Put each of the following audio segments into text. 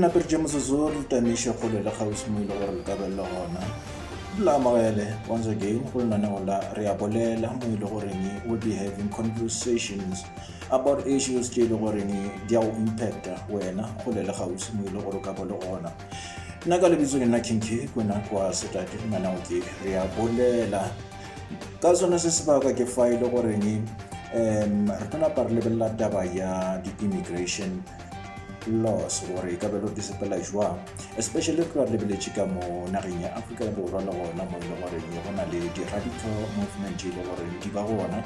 naperetše motsotso re tamiše kgole le kgauswi mo ile gore le kabelele gona la amogele once again go lenaneo la re a bolela mo ile goreng will be having conversations about issues tše e le goreng di a go impacta wena kgole le kgauswi mo ile gore o ka bo le gona nna ka lebitso ke nna kinke kona kwa setate manao ke re a bolela ka sone se sebaka ke fa e le goreng um re tla napa re lebelela taba ya di-immigration laws gore e ka belo di sepela jwang especially ka lebeletse ka mo nageng ya afrika ya borwa le gona mo e le goreng go na le di-radical movement e le goreng di ba gona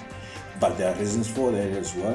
but there are reasons for that as well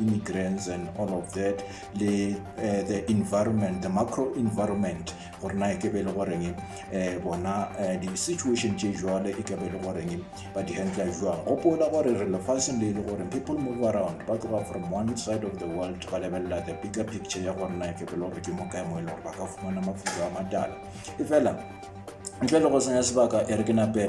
immigrants and all of that le uh, the environment the macro environment gore na e ke be le goreng eh, bona eh, di-situation tše jwale e ke be le goreng ba di handla jwang gopola gore re lefatsheng le e le gore people move around ba tloga from one side of the world ba lebelela the bigger picture ya gore na e ke be le gore ke mo kae mo e le gore ba ka fumana mafuta a matala e fela ntle le go senya sebaka e re ke nape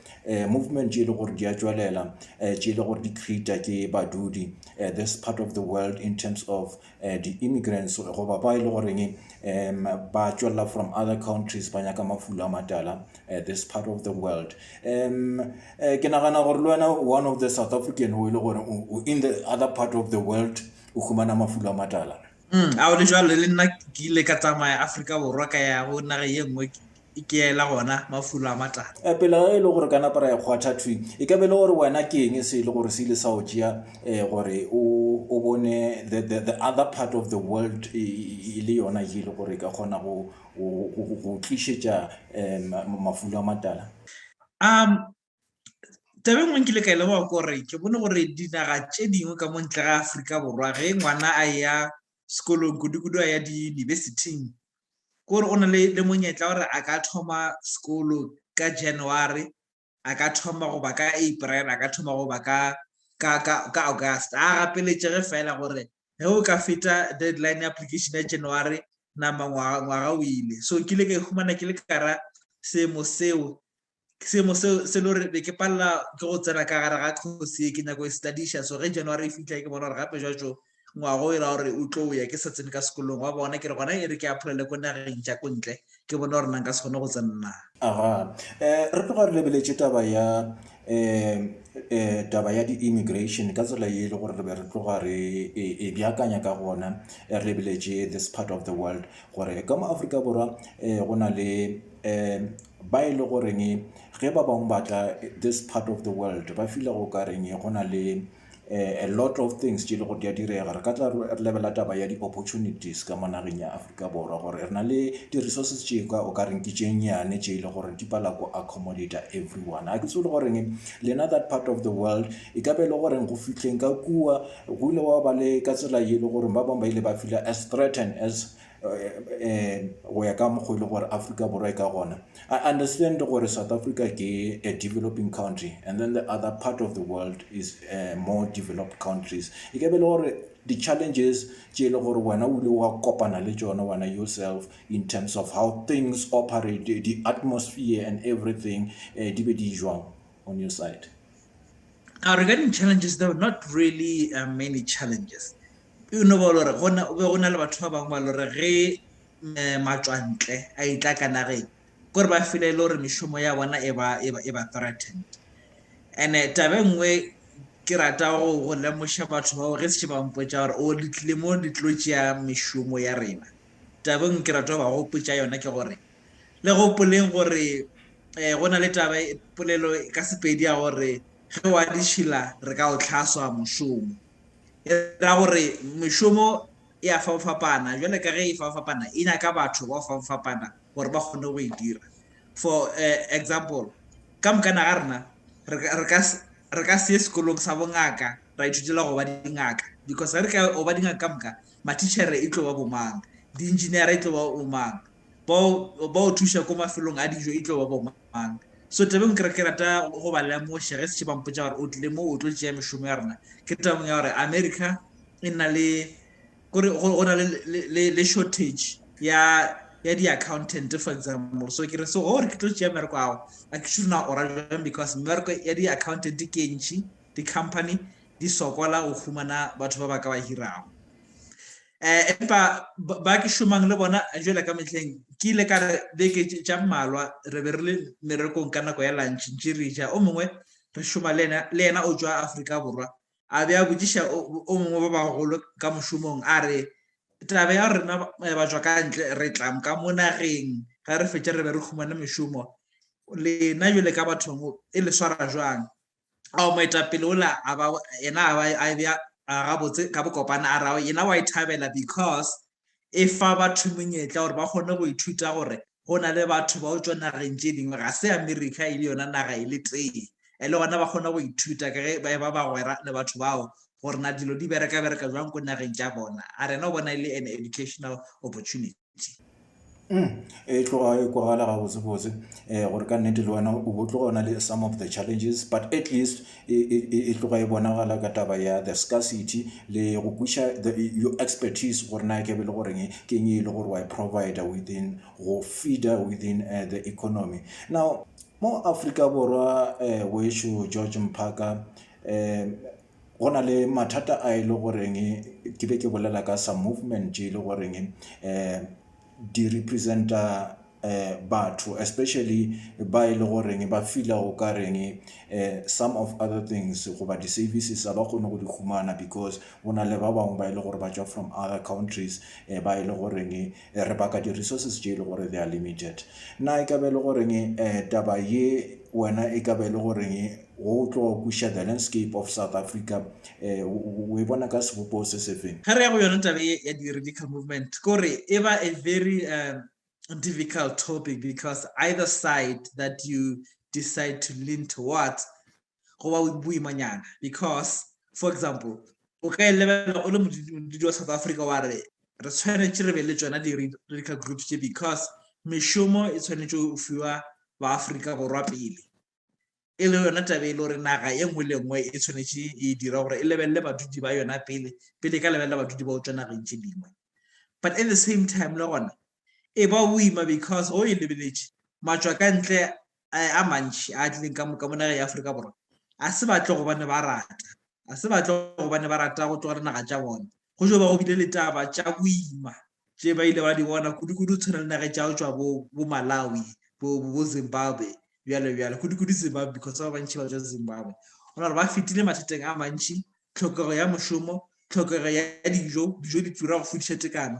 uh, movement tše e le gore di a tšwelela uh, tše e le gore di creata ke badudi uh, this part of the world in terms of uh, the immigrants goba ba e le goreng um ba tšwelela from other countries ba nyaka mafulo a matala uh, this part of the world um uh, ke nagana gore le wena one of the south african o e le gore in the other part of the world o humana mafulo a matala Mm, a o le jalo le nna ke ile ka tsamaya Afrika Borwa ka ya go naga ye nngwe ke- ke ela gona mafulo a matala. Eh, pele ga e le gore ka napa ra ekgwatha thwi e ka be le gore wena ke eng se e le gore se ile sa o tšea eh, gore o o bone the, the, the other part of the world e, e- e le yona ye e le gore e ka kgona go go- go- go- go tlišetša um mafulo a matala Um, tabe ngwe nkile ka e leboga kore ke bone gore dinaga tše dingwe ka mo ntle ga aforika borwa ge ngwana a ya sekolong kudu-kudu a ya diyunibesithing kore o na le le monyetla gore a ka thoma sekolo ka january a ka thoma goba ka april a ka thoma goba ka ka ka ka august a gapeletšege fela gore ge o ka feta deadline ya application ya january nama ngwaga o ile so ke ile ka ihumana ke le kara seemo seo seemo seo se le gore be ke palela ke go tsena ka gare ga kgosi e ke nyako e studiša so ge january e fitlha ke bona gore gape jwa jo ngwago e ra gore o tlo ya ke sa tsene ka sekolong wa bona ke re gona e re ke apolele ko nageng ja ko ntle ke bone gore na nka se kgone go tsenna aga um re tloga re lebeletše taba ya um um taba ya di-immigration ka tsela ye e le gore re be re tloga re e, e bjakanya ka gona re lebeletše this part of the world gore ka mo aforika borwa um go na le um ba e le goreng ge ba bangwe batla this part of the world ba fila go ka reng go na le A lot of things tše le go di a direga. Re ka tla re lebela taba ya di-opportunities ka mo nageng ya Afrika Borwa gore re na le di-resources tše ka o ka reng ke tše nnyane tše e le gore di pala go accommodata everyone. Ga ke tsebe le goreng lena that part of the world e ka be e le goreng go fihleng ka kua go ile wa ba le ka tsela ye e le gore ba bangwe ba ile ba fila as threatened as um go ya ka mokgwa e le gore Afrika Borwa e ka gona I understand gore South Africa ke a developing country and then the other part of the world is uh, more developed countries e ke be le gore di-challenges tše e le gore wena o ile wa kopana le tšona wena yourself in terms of how things operate the atmosphere and everything uh, di be di jwang on your side now regarding challenges there were not really uh, many challenges e no ba lore go be go na le batho ba bangwe ba lore ge eh, matswantle a itla ka nageng kore ba file e le gore mešomo ya bona e ba e e threatened and-e eh, tabe nngwe ke rata go go lemoša batho bao ge se ba mpotsa gore o letlile mo le tlo tšea mešomo ya rena tabeng ke rata go ba gopotsa yona ke gore le gopoleng gore um go na le taba e, polelo ka sepedi ya gore ge wa ditšhila re ka o tlhaswa mošomo E ra gore mešomo e a fapafapana, jwale ka ge e fapafapana, e nyaka batho ba fapafapana gore ba kgone go e dira. For eh, example, ka mokana ga rena re ka- re ka s- re ka se ye sekolong sa bongaka ra ithutela go ba dingaka because ge re ka go ba dingaka ka moka matichere e tlo ba bomang, di-engineera e tlo ba bomang, bao ba o thuša ko mafelong a dijo e tlo ba bomang so tabeng kere ke rata go ba lemoša ge setše ba mpotsa gore o tlile mo o tlo tšea mešomo ya rona ke tabong ya gore america e na le kore go na le shortage ya ya di-accountant for example so ke re so gore ke tlo tšea mmereko ao a ke sure na o ra jang because mmereko ya di-accountant ke ntšhi di-company di sokola go humana batho ba ba ka ba hirago um empa ba ke šomang le bona jela ka metlheng ke ile ka re beke tša mmalwa re be re le merekong ka nako ya lantšhe ntše re ja o mongwe re šoma le yena o tswa aforika borwa a be a botsiša o mongwe ba bagolo ka mošomong a re taba ya rena eh, ba tswa ka ntle re tlam ka mo nageng ga re fetše re be re humane mešomo lena jale ka bathong e le swara jwang ao moetapele ola a ba yena a ba a be a gabotse ka bokopana a rago yena wa e thabela because e fa batho monyetla gore ba kgone go ithuta gore go na le batho ba o tswa nageng tse dingwe ga se america e le yona naga e le tee e le gona ba kgona go ithuta ka ge ba ba bagwera le batho bao gore na dilo di bereka bereka jwang ko nageng tša bona a rena o bona e le an educational opportunity dipitse. Mm, e tloga e kwagala gabotsebotse um gore ka nnete le wena o bo tloga o na le some of the challenges but at least e, e, e, e tloga e bonagala ka taba ya the scarcity le go kwiša your expertise gore na ke be le goreng ke eng e le gore wa e provider within go feeder within uh, the economy now mo africa borwa um uh, wesho george mphaka um go na le mathata a e le goreng ke be ke bolela ka some movement tše e le goreng um di representa um batho especially ba e le goreng ba feela o ka reng um some of other things goba di-services ga ba kgone go di humana because go na le ba bangwe ba e le gore ba tšwa from other countries um ba e le goreng E re baka di-resources tše e le gore they are limited. Na e ka be e le goreng taba ye wena e ka be e le goreng wo o tlo kweša the landscape of South Africa o e bona ka sebopego se sefeng? Ge re ya go yona taba ye ya di-radical movement, ke gore e ba a very difficult topic because either side that you decide to lean towards go ba boimanyana because for example o ka e lebelela o le modudi wa south africa wa re re tshwanetse re be le tsona di-radical groups tse because mešomo e tshwanetse o fiwa baaforika borwa pele e le yona tabe e le gore naga e nngwe le nngwe e tshwanetse e dira gore e lebelele badudi ba yona pele pele e ka lebelela badudi ba o tswa nageng tse dingwe but at the same time le gona e ba o ima because o e lebeletse matswa ka ntle a mantši a tlileng ka moka mo nageng ya Aforika Borwa, a se batle gobane ba rata, a se batle gobane ba rata go tlogela naga tša bona. Go tšwa ba go bile le taba tša boima tše ba ile ba di bona kudu-kudu tshwana le nage tša go tšwa bo bo Malawi, bo bo Zimbabwe bjalo bjalo. Kudu-kudu Zimbabwe because ba bantši ba tšwa Zimbabwe. Go na gore ba fetile mathateng a mantši, tlhokego ya mošomo, tlhokego ya dijo, dijo di tura go fodiša tekano.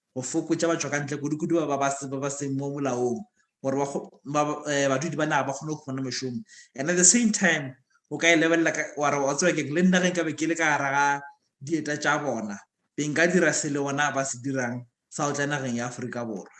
go fokotša batšwakantle kudukudu ba ba ba ba seng mo molaong gore ba ba eh, badudi ba naga ba kgone go khumana mešomo and at the same time o ka e lebelela wa re wa tseba keng le nna ge nka be ke le ka gara ga dieta tša bona be nka dira se le bona ba se dirang sa go tla nageng ya aforika borwa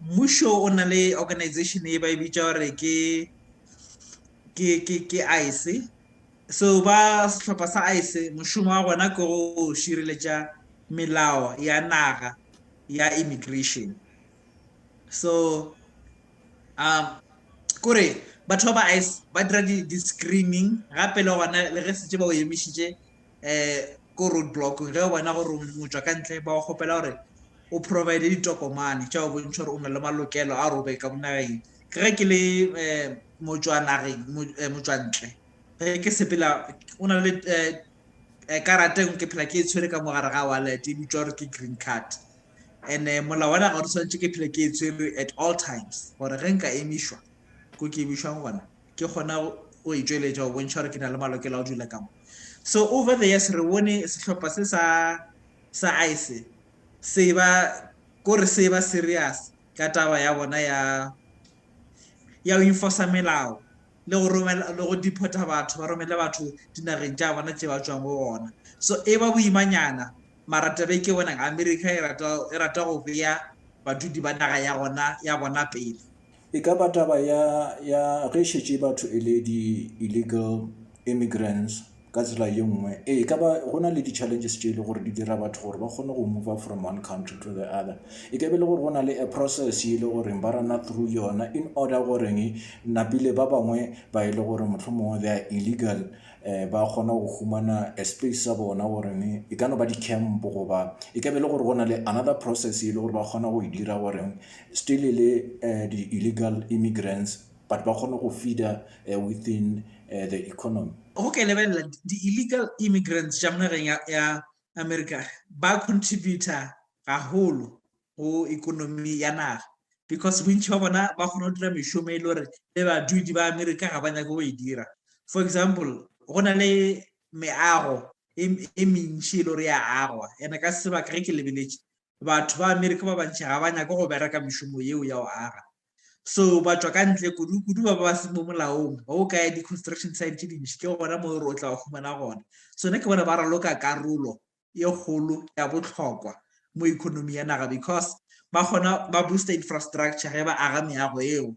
Mmušo o na le organization e ba e bitša gore ke ke ke ke ICE so ba sehlopha sa ICE mošomo wa gona ke go šireletša melao ya naga ya immigration so um kore batho ba ba ICE ba dira di-screening gape le gona le ge setse ba o emišitše ko road block ge o bona gore o tšwa ka ntle ba go kgopela gore o provide ditokomane tša go bontšha gore o na le malokelo a gore o be ka monageng ke ge ke le motswanageng motswantle ge ke sepela o na le karateng ke phela ke e tshwere ka mogare ga wallet e bitswa gore ke green card and-e molao wa naga gore tshwanetse ke phela ke e tshwere at all times gore ge nka emišwa ko ke emišwang gona ke kgona go e tšweletša go bontšha gore ke na le malokelo a go dula ka mo so over the years re bone sehlopha se sa sa ice se ba kore se ba serious ka taba ya bona ya ya go enforce melao le go romela le go deporta batho ba romele batho dinageng tša bona tše ba tswang go gona so e ba boimanyana mara tabe ke bona america e rata e rata go beya badudi ba naga ya gona ya bona pele E ka ba taba ya, ya ge šetše batho e le di-illegal immigrants ka tsela ye nngwe. Ee, e ka ba go na le di-challenges tše e le gore di dira batho gore ba kgone go mover from one country to the other. E ka be e le gore go na le a process e le goreng ba rana through yona in order goreng napile ba bangwe ba e le gore mohlomongwe they are illegal um ba kgona go humana a space sa bona goreng e ka no ba di-camp goba e ka be e le gore go na le another process e le gore ba kgona go e dira goreng still e le uh, the illegal immigrants but ba kgone go feeder uh, within uh, the economy go ke lebelela di-illegal immigrants tša monageng ya, ya america ba contributor gagolo go economy ya naga because bontšhi ba bona ba kgona go dira mešomo e le gore le badudi ba america ga ba nyake go e dira for example go na le meago e, e mentši e le gore ya agwa ene ka sebaka ge ke lebeletše Batho ba Amerika ba bantši ga ba nyake go bereka mešomo yeo ya go aga, so ba tšwa ka ntle, kudu kudu ba ba se mo molaong, ba go kaya di-construction site tše dintši, ke gona mo e re o tla ba humana gona. So nna ke bona ba raloka karolo e kgolo ya bohlokwa mo economy ya naga because ba kgona ba booster infrastructure ge ba aga meago yeo,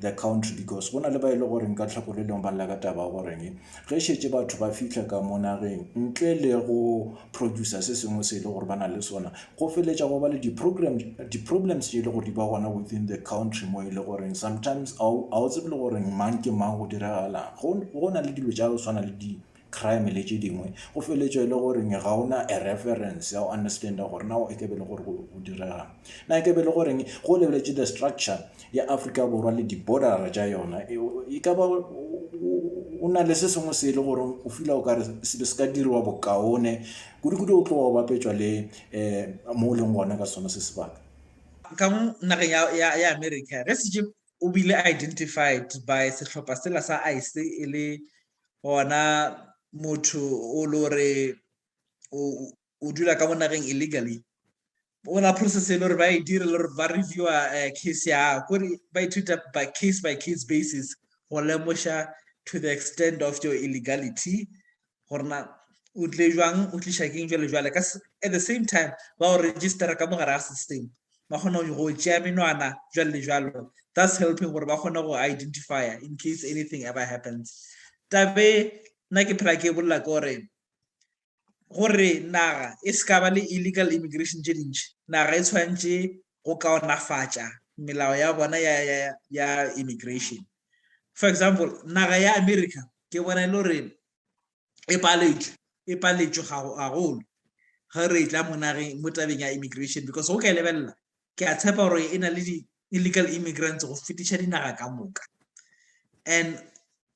the country because go na le ba e le goreng ka tlhako le lengwe ba lla ka taba goreng ge šetše batho ba fihla ka mo nageng ntle le go producer se sengwe se e le gore ba na le sona go feletša go ba le di-problems tše e le gore di ba gona within the country mo e le goreng sometimes ga o tsebe le goreng mang ke mang go diragalang go na le dilo tša go tshwana le di crime le tše dingwe go feletšwa e le gore ga o na a reference ya go understanda gore na e kebe le gore go direga na e kebe le goreng go lebeletše the structure ya africa borwa le di-bordera tša yona e, e ka ba o na le se sengwe se e le gore o fila o kare sebe se ka diriwa bokaone kudu-kudu o tloga o bapetšwa le um mo o leng gona ka sona se sebaka ka mo nageng ya america ge setse o bile identified by sehlopha sela sa ice e le gona motho o lo re o dula ka mo nageng illegally o na process e le gore ba e dire le gore ba reviewa eh, case ya gore ba ithuta by case by case basis go lemoša to the extent of your illegality gorena o tle jwang o tliša keng jale jale at the same time ba o registera ka mogare ga system ba kgona go tšea menwana jalo le jalo thus helping gore ba kgone go identifya in case anything ever happens tabe nna ke phela ke bolela ke gore gore naga e se ka ba le illegal immigration tše dintšhi naga e tshwanetse go kaonafatša melao ya bona ya, ya, ya immigration for example naga ya america ke bona e le gore e paletšwe e paletšwe gagolo ge re tla mo nageng mo tabeng ya immigration because go ka e lebelela ke a tshepa gore e na le di-illegal immigrants go fetiša dinaga ka moka and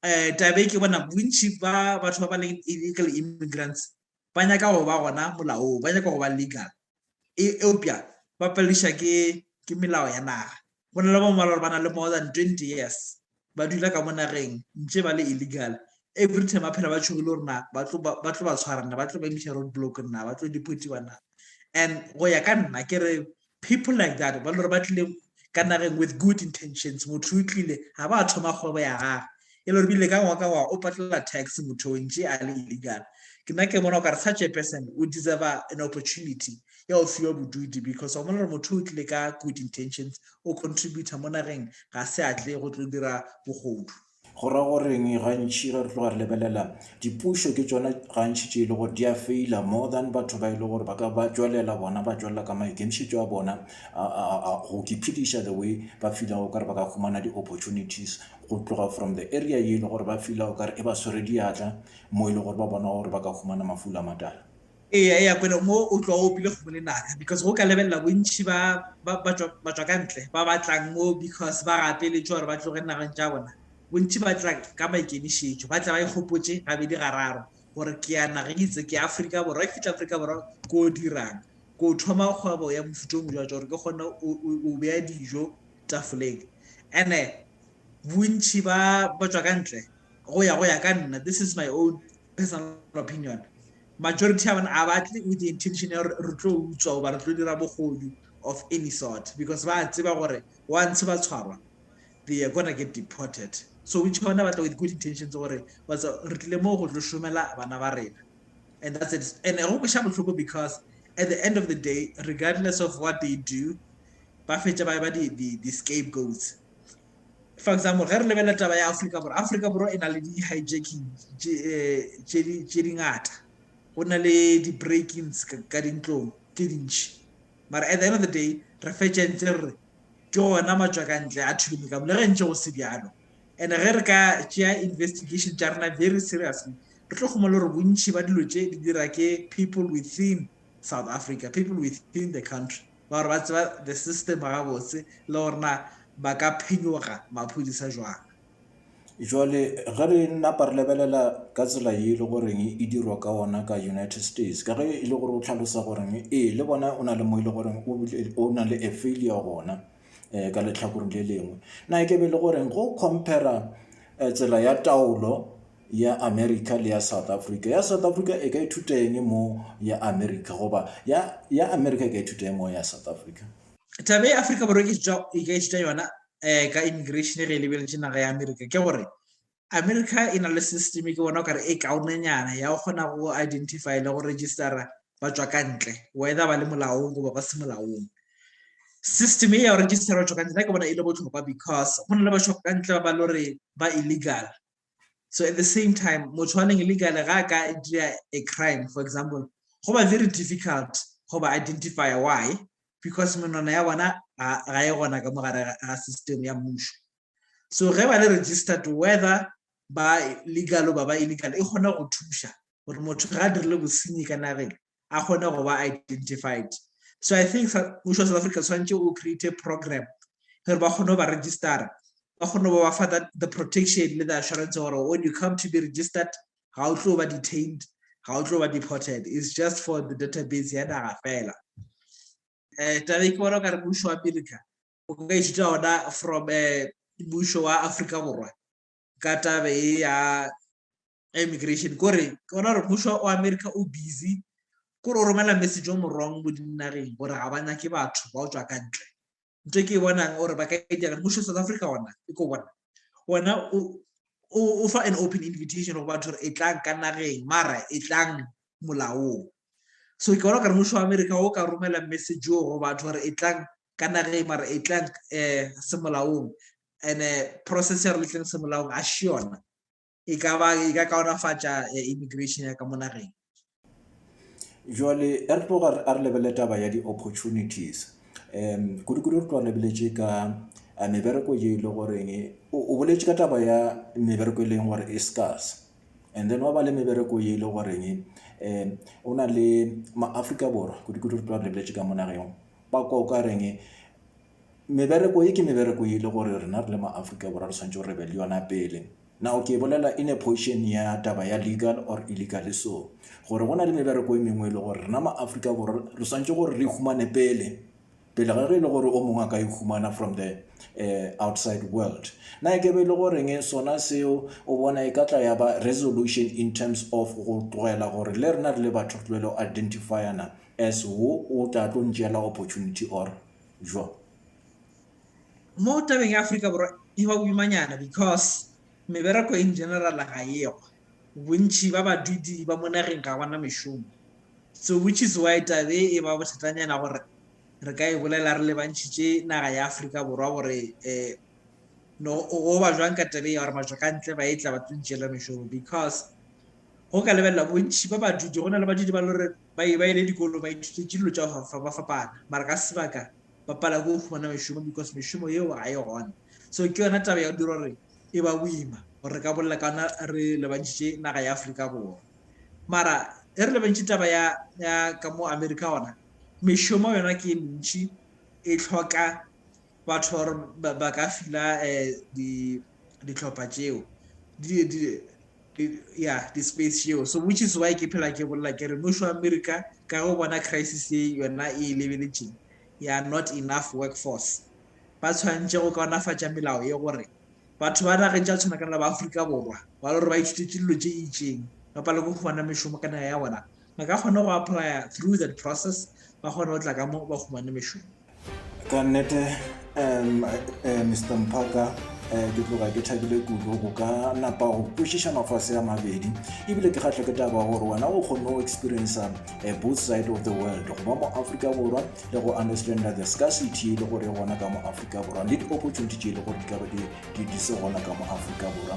um tabe ke bona bontšhi ba batho ba ba leng illegal immigrants ba nyaka go ba gona molaong ba nyaka go ba legal e, eupša ba paledišwa ke, ke melao ya naga. Go na le ba bangwe ba le gore ba na le more than 20 years ba dula ka mo nageng ntše ba le illegal. Every time ba phela ba tšhogile gore na ba tlo ba tlo ba tshwara na, ba tlo ba imiša road block na, ba tlo deportiwa na. And go ya ka nna ke re people like that ba le gore ba tlile ka nageng with good intentions motho o tlile ga ba thoma kgwebo ya gage e le rile ka ngwa ka ngwa o patlela tax motho o ntše a le illegal ke nna ke bona o ka re such a person o deserve an opportunity ya go fiwa bodudi because wa mola motho o tlile ka good intentions o contributor mo nageng ga se a tle go tlo dira bogodu Go ra go reng gantši ge re tloga re lebelela dipušo ke tšona gantši tše e le gore di a feila more than batho ba e le gore ba ka ba tšwelela bona ba tšwelela ka maikemišetšo a bona go kiphediša the way ba filago kare ba ka humana di-opportunities go tloga from the area ye e le gore ba filago kare e ba swere diatla mo e le gore ba bona gore ba ka humana mafula matala Eya eya kwele mo o tloa o opile kgomo le naka because go ka lebelela bontši ba ba ba tšwa ba tšwa ka ntle ba ba tlang mo because ba gapeletšwe gore ba tloge nageng tša bona bontši ba tla ka maikemišetšo ba tla ba ikgopotše gabedi gararo gore ke ya nageng e itse ke ya Afrika Borwa ke fitlha Afrika Borwa ko o dirang ko o thoma kgwebo ya mofuta o mojwa gore ke kgone o- o o beya dijo tafoleng ene bontši ba ba tšwa ka ntle go ya go ya ka nna this is my own personal opinion Majority ya bona a ba tle with the intention ya gore re tlo utswa goba re tlo dira bogodu of any sort because ba a tseba gore once ba tshwarwa they are gonna get deported. So which bona ba tla with good intentions gore batsa re tlile moo go tlo šomela bana ba rena and that's it. And go kweša bohloko because at the end of the day regardless of what they do ba fetša ba ba di di di scapegoats For example, ge re lebelela taba ya Afrika Borwa, Afrika Borwa e na le di-hijacking tše eh, dingata. Go na le di-breakings ka dintlong tše dintšhi. Mara at the end of the day, re fetša ntse re re ke gona matswakantle a thuleme ka bole ge ntše go se bjalo. And ge re ka tšea investigation tša rena very seriously, re tlo kgoma le gore bontšhi ba dilo tše di dira ke people within South Africa, people within the country. ba gore ba tseba the system gabotse le gore na ba ka phenyoga maphodisa jwang jwale ge re napa re lebelela ka tsela ye e le goreng e dirwa ka ona ka united states ka ge e le gore o tlhalosa goreng ee le bona o na le mo e le goreng o na le a failure gona um ka letlhakoreng le lengwe na e ke be e le goreng go compara eh, tsela ya taolo ya America le ya South Africa. Ya South Africa e ka ithuta eng mo ya America goba ya ya America e ka ithuta eng mo ya South Africa? Taba e Africa Borwa ke ithuta e ka ithuta yona eh ka immigration re e lebeletše naga ya America ke gore America e na le system ke bona o kare e kaonenyana ya go kgona go identify le go registera ba tswa ka ntle whether ba le molaong goba ba se molaong. System e ya go registera ba tswa ka ntle ke bona e le botlhokwa because go na le ba tswa ka ntle ba ba lore ba illegal so at the same time motho wa neng illegally ga a ka dira a crime for example go ba very difficult go ba identifya why because menwana ya bona ga e gona ka mogare ga system ya mmušo so ge ba le registered whether ba legal ba ba illegal e kgona go thuša gore motho ga a dirile bosenyi ka nageng a kgone go ba identified. So I think mmušo wa South Africa tshwanetse o create program gore ba kgone go ba registera ba kgone go ba fa that the protection le the assurance gore when you come to be registered ga o tlo ba detained ga o tlo ba deported is just for the database ya naga fela um tabe ke bona o kare mmušo wa america o ka ithuta ona from um mmušo wa afrika borwa ka tabe e ya ya immigration kore ke bona gore mmušo wa america o busy kore o romela message o morong mo dinageng gore ga ba nyake batho ba o tswa ka ntle nto ke e bonang gore ba ka e dira mmušo south africa ona e ko bona ona o fa an open invitation go batho gore e tlang ka nageng mara e tlang molaong so ke bona gore mmušo wa america o ka romela message o go batho gore e tlang ka nageng mara e tlang um semolaong and-e process ya re letleng semolaong a še yona e ka ba e ka kaonafatša eh, immigration ya ka mo nageng jwale a re tloga a re lebele taba ya di-opportunities um kudu-kudu re tloga lebeletše ka eh, mebereko ye e le goreng e, o o boletše ka taba ya mebereko e leng gore e scars and then wa ba le mebereko ye e le goreng e, um o na le maaforika borwa kudu-kudu re tloga re lebeletše ka mo nageng ba kwa o ka reng e, Mebereko ye ke mebereko ye e le gore rena re le ma-Afrika Borwa re swanetše re be le yona pele. Now ke e bolela in a position ya taba ya legal or illegally so. Gore go na le mebereko e mengwe e le gore rena ma-Afrika Borwa re swanetše gore re humane pele, pele ga ge e le gore o mongwe a ka e humana from the outside world. Na e ke be e le goreng sona seo o bona e ka tla ya ba resolution in terms of go tlogela gore le rena re le batho re tlwele go identifyana as wo o tla tlo ntšeela opportunity or Bjoo. Mo tabeng ya Afrika Borwa e ba boimanyana because mebereko in general ga eyo. Bontši ba badudi ba mo nageng ga ba na mešomo. So which is why taba e e ba bothatanyana gore re ka e bolela re lebantšhitše naga ya Afrika Borwa gore um no go ba jwang ka taba e ya gore batšwakantle ba e tla ba tlo ntšeela mešomo because Go ka lebelela bontši ba badudi, go na le badudi ba le gore ba e ba ile dikolo ba ithutetše dilo tša go ba fapana, mara ka sebaka ba pala ke go humana mešomo because mešomo yeo ga e gona. So ke yona taba ya go dira gore e ba boima gore re ka bolela ka ona re lebantšhitše naga ya Afrika Borwa. Mara e re lebantšhe taba ya ya ka mo America gona mešomo yona ke e mentši e tlhoka Batho ba gore ba ka fila dihlopha tšeo, ya di-space tšeo. So which is why ke phela ke bolela ke re mmušo wa America ka ge o bona crisis ye yona e e lebeletšeng ya not enough work force, ba tshwanetše go kaonafatša melao ye gore batho ba nageng tša tshwanakana le ba Afrika Borwa ba le gore ba ithutetše dilo tše itšeng ba palelwe ke go fumana mešomo ka naga ya bona, ba ka kgona go applya through that process ba kgone go tla ka mo ba humane mešomo ka nnete um eh, mr mpaka um eh, ke tloga ke thabile kudu go ka napa go kwešiša mafase a mabedi ebile ke kgatlho ke taba gore wena o kgonne go experiencea eh, both side of the world go ba mo aforika borwa le go understanda the scarcity le gore gona ka mo aforika borwa le di-opportunity tše e le gore di ka ba di se gona ka mo aforika borwa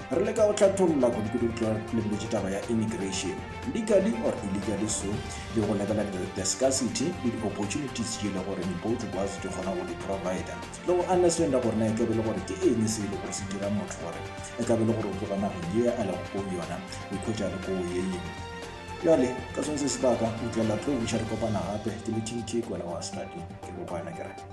re leka go tlhatholla kudukudutlwa le boletse taba ya immigration legally or illegally so le go lebelela the scarcity le di-opportunities tše e le gore both of us di kgona go di-provider le go understanda gore na e kabe le gore ke eng se e le gore se dira motho gore e kabe le gore o tloga nageng ye a lego ko yona o ikhwetša le ko ye yeng bjale ka sone se sebaka o tlela tlo buša re kopana gape ke le tintšhe kwena wa stadi ke bopana kere